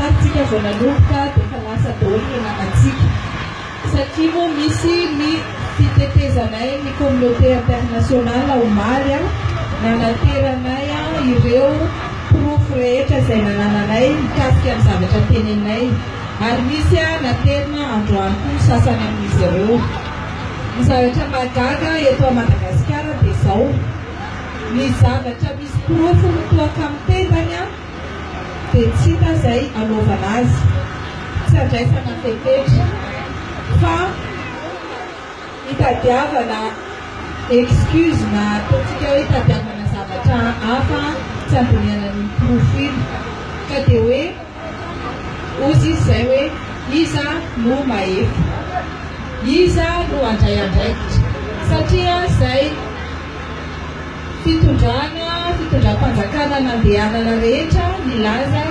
Tany tsika vao nanomboka dia efa lasa daholo ny nanatsika satria moa misy ny fitetezanay ny communauté internationale omaly an, nanateranay an ireo porofo rehetra izay nanananay mikasika ny zavatra teneninay ary misy an naterina androany koa ny sasany amin'izy ireo. Ny zavatra mahagaga eto a Madagasikara dia izao, ny zavatra misy porofo mitoa kamo tendany an, dia tsy hita izay anaovana azy, tsy andraisana fepetra fa itadiavana excuse na ataontsika hoe itadiavana zavatra hafa tsy andinihana an'iny porofo iny ka dia hoe ozy izy izay hoe iza no mahefa, iza no handray andraikitra satria izay fitondrana fitondram-panjakana nandehanana rehetra nilaza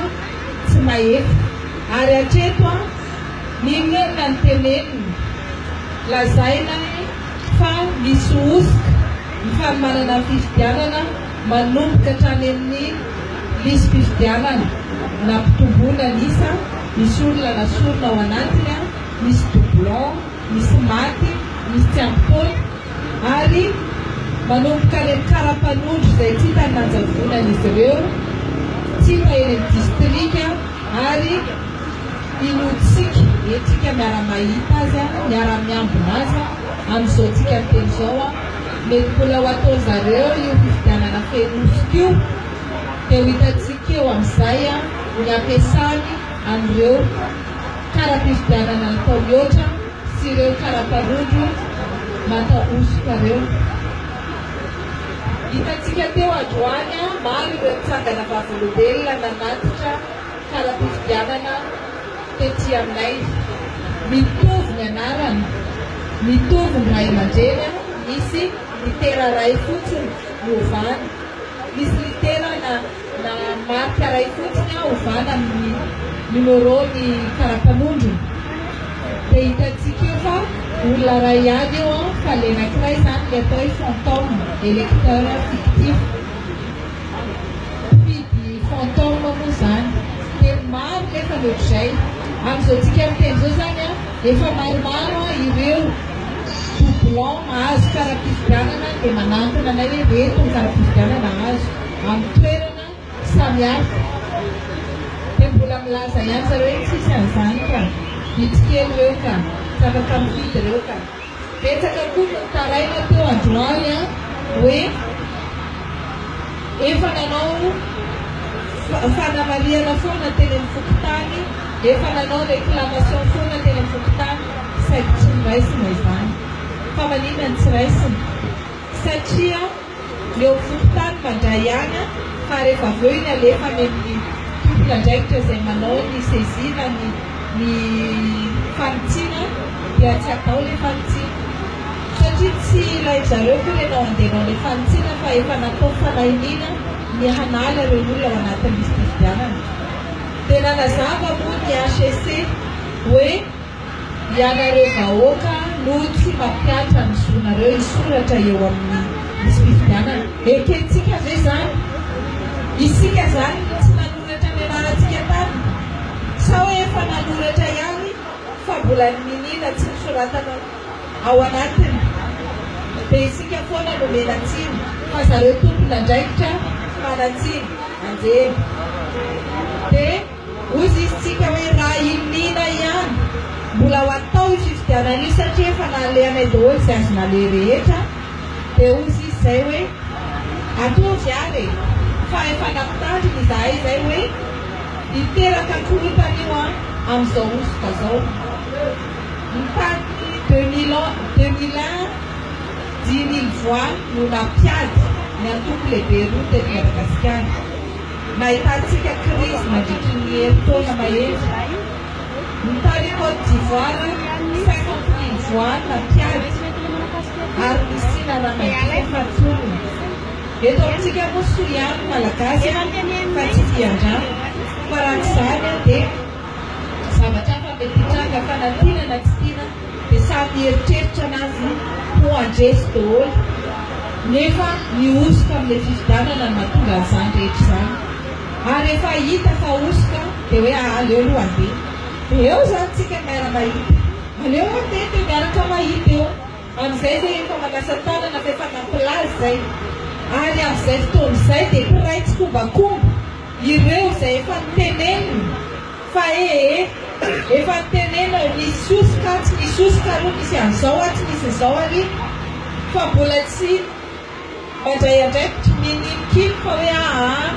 tsy mahefa ary hatreto an ninoninona ny teneniny lazaina fa misy hosoka ny fanomanana ny fifidianana manomboka hatrany amin'ny lisi-pifidianana nampitomboina ny isa misy olona nasorina ao anatiny an misy doublon misy maty misy tsy ampy taona ary manomboka any amin'ny kara-panondro izay tsy hitan'ny nanjavonany izy ireo, tsy hita eny amin'ny distrika ary inoantsika, entsika miara-mahita azy, miara-miambina azy amin'izao tsika miteny izao, mety mbola ho ataon-dry zareo io fifidianana feno hosoka io, dia ho hitantsika eo amin'izay ny hampiasany an'ireo kara-pifidianana natao mihoatra. sy ireo karaparodo mata hosoka reo. Hitantsika teo androany maro ireo tsangana vavolombelona nanatitra kara-pifidianana tety aminay. Mitovy ny anarana, mitovy ny ray aman-dreny an, misy litera iray fotsiny niovana, misy litera na. Na marika iray fotsiny aho ovana amin'ny numéro ny karapanondrony dia hitantsika eo fa olona iray ihany eo an fa le anankiray izany le atao hoe fantôme, électeur fictif. Mpifidy fantôme moa izany dia maro nefa ny ohatr'izay. Amin'izao tsika miteny izao izany an, efa maromaro an ireo doublons mahazo kara-pifidianana dia manantona anay hoe reto ny kara-pifidianana azo. amin'ny toerana samihafa dia mbola milaza ihany zareo hoe tsisy an'izany ka, vitsy kely ireo ka, zava-kamifidy ireo ka. Betsaka koa no nitaraina teo androany an, hoe efa nanao fanamarihana foana teny amin'ny fokontany, efa nanao réclamation foana teny amin'ny fokontany saingy tsy noraisina izany. Fa maninona no tsy raisina? Satria. ny eo fokontany mandray any fa rehefa avy eo iny alefa any amin'ny tompon'andraikitra izay manao ny saisie na ny ny fanitsiana dia tsy atao ilay fanitsiana satria tsy ilain-dry zareo koa ilay nandehanao ilay fanitsiana fa efa natao fanahiniana ny hanala ireo olona ao anatin'ny lisi-pifidianana. Dia nanazava moa ny HCC hoe Ianareo vahoaka no tsy mampiatra ny zonareo hisoratra eo amin'ny lisi-pifidianana. Ekentsika ve izany? Isika izany no tsy nanoratra ny anarantsika tany? Sao hoe efa nanoratra ihany fa mbola ny miniana tsy nosoratana ao anatiny dia isika foana no menatsiny fa zareo tompon'andraikitra fanatsiny anjely dia Hozizitsika hoe raha i Nina ihany mbola ho atao io fifidianana io satria efa nalehanay daholo izay azo naleha rehetra dia hozy izy izay hoe atovy ary e! fa efa nampitandrina izahay izay hoe hiteraka korontana io an amin'izao hosoka izao ny tany deux mille un deux mille un dimy mille voix no nampiady ny antoko lehibe roa teto Madagasikara. Nahitantsika krizy nandritry ny herintaona mahery. Ny tany Côte d'Ivoire, cinquante mille voix nampiady ary nisiana ramadio natolony. Eto amintsika moa soa ihany ny Malagasy fa tsy dian-drano, fa raha tsy izany dia zavatra hafa mety hitranga, fanadinana tsy tiana. dia sady nieritreritra anazy ho handresy doholy nefa nihosoka amin'ilay fifidanana no mahatonga an'izany rehetra izany ary rehefa hita fa hosoka dia hoe aa aleo aloha handeha dia eo izany tsika miara mahita aleo handeha dia miaraka mahita eo amin'izay dia efa manasa tanana fa efa nampilaza izay ary amin'izay fotoana izay dia mpiray tsikombakomba ireo izay efa notenenina Fa ee, efa nitenenao nisy sosoka tsy nisy sosoka ary nisy an'izao ary tsy nisy izao ary fa mbola tsy mandray andraikitry ny ninonkino fa hoe aa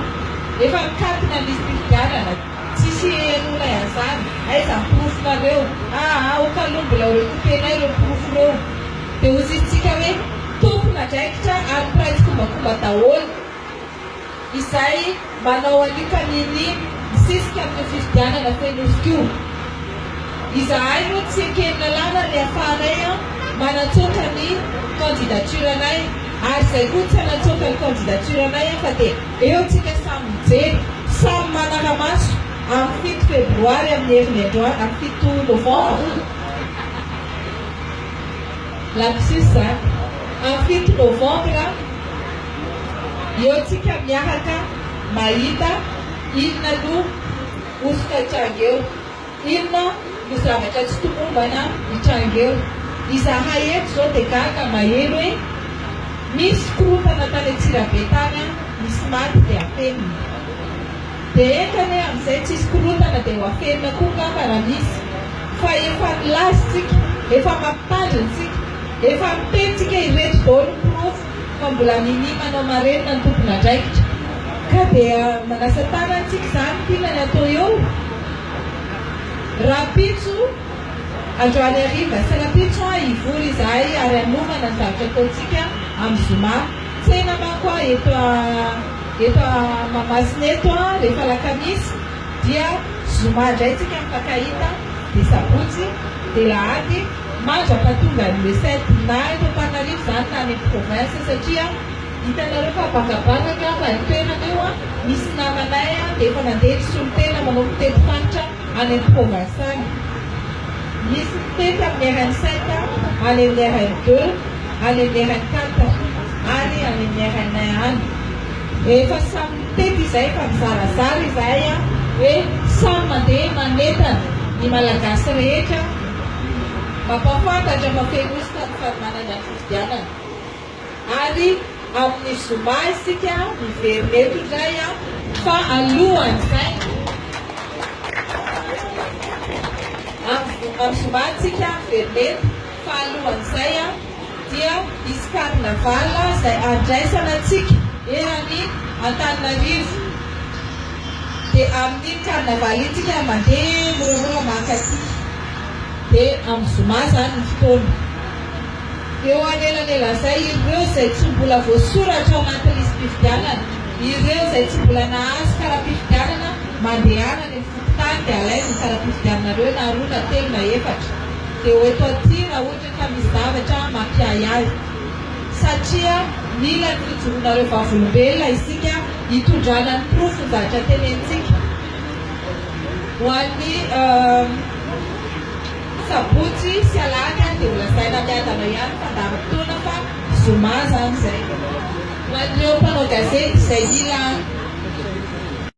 efa nikatona ny fifidianana tsisy henoina iazany aiza ny porofonareo aa aoka aloha mbola ho recoupénay ireo porofo ireo dia hozizintsika hoe tompon'andraikitra ary mpiray tsikombakomba daholo izay manao alika mini misisika amin'io fifidianana teniofika io. Izahay moa tsy ekeny lalàna ny afahanay manatsoaka ny candidature anay ary izay koa tsy hanatsoaka ny candidature anay fa dia eo tsika samy mijery, samy manara-maso amin'ny fito febroary amin'ny herin'ny androany, amin'ny fito novambra, lapsus a, amin'ny fito novambra. Eo tsika miahaka mahita inona no hosoka hitranga eo, inona no zavatra tsy tomombana hitranga eo. Izahay eto izao dia gaga maheno hoe misy korontana tany Antsirabe tany an, nisy maty dia afenina. Dia enga anie amin'izay tsisy korontana dia ho afenina koa angamba raha misy fa efa nilaza isika, efa mampitandrina isika, efa miteny isika ireto daholo ny porofo. fa mbola minia manao marenina ny tompon'andraikitra ka dia manasa tanana isika izany tiana ny atao eo rahampitso androany hariva sy rahampitso an hivory izahay ary hanomana ny zavatra ataontsika amin'ny zoma tsena manko an eto eto mahamasina eto an rehefa alakamisy dia zoma indray tsika mifankahita dia sabotsy dia lahady Manja fa tonga ny recette na eto Antananarivo zany na any province satria hitanareo fa bangabanga angamba ny toerana eo a, misy namanay a dia efa nandeha nisolo tena manao fitety fanitra any am province any, misy mitety amin'ny RN sept a, any amin'ny RN deux, any amin'ny RN quatre ary any amin'ny RN un any. Efa samy mitety izay efa mizarazara izahay a, hoe samy mandeha manentana ny Malagasy rehetra. mampahafantatra fa feno ositra ny fanomanana ny fifidianana ary amin'ny zoma isika miverina eto indray an! Fa alohan'izay, amin'ny zoma isika miverina eto, fa alohan'izay an! dia hisy carnaval izay handraisana antsika eran'i Antananarivo. Dia amin'iny carnaval iny tsika mandeha moramora mankaty. Dia amin'ny zoma izany ny fotoana. Eo anelanelan'izay ireo izay tsy mbola voasoratra ao anaty lisi-pifidianana, ireo izay tsy mbola nahazo kara-pifidianana mandehana any amin'ny fokontany dia alainy ny kara-pifidiananareo na roa na telo na efatra. Dia ho eto aty raha ohatra. Fa misy zavatra mampiahy ahy. Satria mila ny fijoroanareo vavolombelona isika hitondrana ny porofo ny zavatra tenenintsika. Ho an'ny sabotsy sy alahady ary dia ho lazaina miadana ihany fandaharam-potoana fa zoma izany izay. Ho an'ireo mpanao gazety izay mila.